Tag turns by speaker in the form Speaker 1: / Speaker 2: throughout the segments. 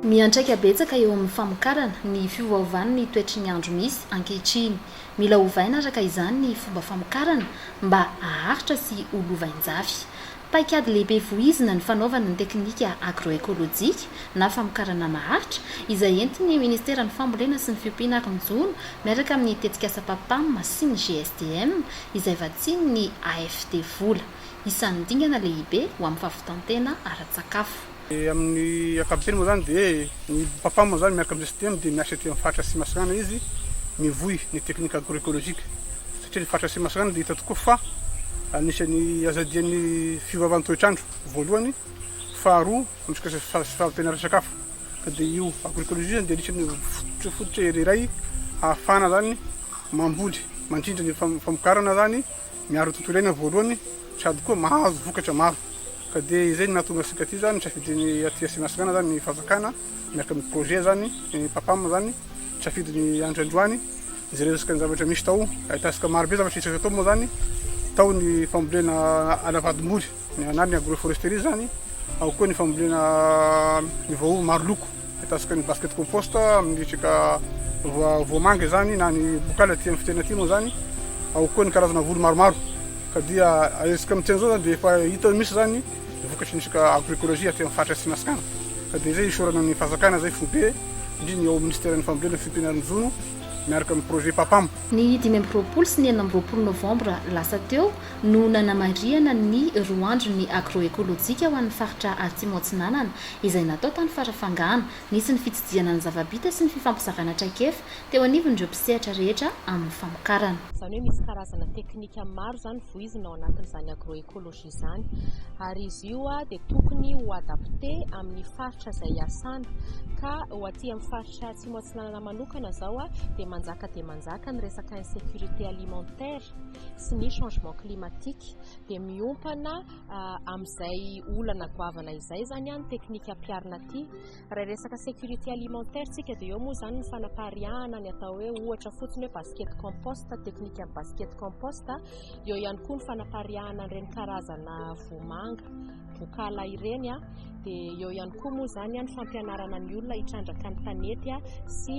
Speaker 1: Miantraika betsaka eo amin'ny famokarana ny fiovaovan'ny toetry ny andro misy ankehitriny. Mila ovaina araka izany ny fomba famokarana mba haharitra sy ho lovain-jafy. Paikady lehibe voizina ny fanaovana ny teknika agro-ekolojika na famokarana maharitra, izay entin'ny Ministeran'ny Fambolena sy ny Fiompiana ary ny Jono miaraka amin'ny tetikasa PAPAM sy ny GSDM, izay vatsian'ny AFD vola. Isan'ny dingana lehibe ho amin'ny fahavitan-tena ara-tsakafo. Amin'ny
Speaker 2: ankapobeny moa izany dia ny Papa moa izany miaraka amin'ny STM dia miasa ety amin'ny faritra Atsimo Atsinanana izy mivoy ny technique agro-ecologique satria ny faritra Atsimo Atsinanana dia hita tokoa fa anisan'ny azadian'ny fiovaovan'ny toetr'andro voalohany, faharoa amin'izay resaka fahavitan'ny ara-tsakafo ka dia io agro-ecologie izany dia anisan'ny fototra fototra iray ahafahana izany mamboly mandrindra ny famokarana izany Miaro ny tontolo iainana voalohany sady koa mahazo vokatra maro ka dia izay no nahatonga antsika aty zany nisafidiny aty Atsimon'i Ansiranana zany ny fanjakana miaraka amin'ny projet zany ny papam zany nisafidy ny andry androany hijery resaka ny zavatra misy tao ahitantsika marobe zavatra hita tao moa zany tao ny fambolena anavadimboly Ny anarany agroforesterie zany, ao koa ny fambolena ny voaova maro loko, ataontsika ny basket compost amin'ny resaka voamanga izany na ny bokala aty amin'ny fitena aty moa zany, ao koa ny karazana voly maromaro ka dia ahersika amin'ny teny zao zany dia efa hita misy zany ny vokatry ny resaka agroecologie aty amin'ny faritra Atsinasikana ka dia izay isaorana ny fanjakana zay foibe indrindra ny ao minisiteran'ny fambolena ny fiompianan'ny jono miaraka amin'ny projet papam. Ny dimy amby roapolo
Speaker 1: sy ny enina amby roapolo novambra lasa teo, no nanamarihana ny roa andron'ny Agroekolojika ho an'ny faritra Atsimo Atsinanana izay natao tany Farafangana. Nisy ny fitsidihana ny zava-bita sy ny fifampizarana traikefa teo anivon'ireo mpisehatra rehetra amin'ny famokarana. Izany hoe misy karazana
Speaker 3: teknika maro izany voizina ao anatin'izany agroecologie izany ary izy io dia tokony ho adapte amin'ny faritra izay hiasana ka ho aty amin'ny faritra Atsimo Atsinanana manokana izao dia manjaka dia manjaka ny resaka insecurite alimentaire sy ny changement climatique dia miompana amin'izay olana goavana izay izany ny teknika ampiharina aty. Raha resaka sécurité alimentaire tsika dia eo moa izany ny fanapariahana ny atao hoe ohatra fotsiny hoe basket compost, teknika basket compost, eo ihany koa ny fanapariahana ireny karazana vomanga. vokahala ireny a dia eo ihany koa moa izany a ny fampianarana ny olona hitrandraka ny tanety a sy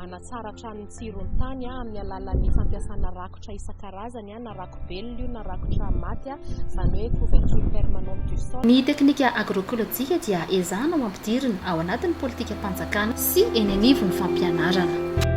Speaker 3: hanatsara hatrany ny tsiron'ny tany a amin'ny alalan'ny fampiasana rakotra isan-karazany a na rakobelona io na rakotra maty a izany hoe couverture permanente du sol Ny teknika
Speaker 1: agroekolojika dia ezahana ho ampidirina ao anatin'ny politikam-panjakana sy eny anivon'ny fampianarana.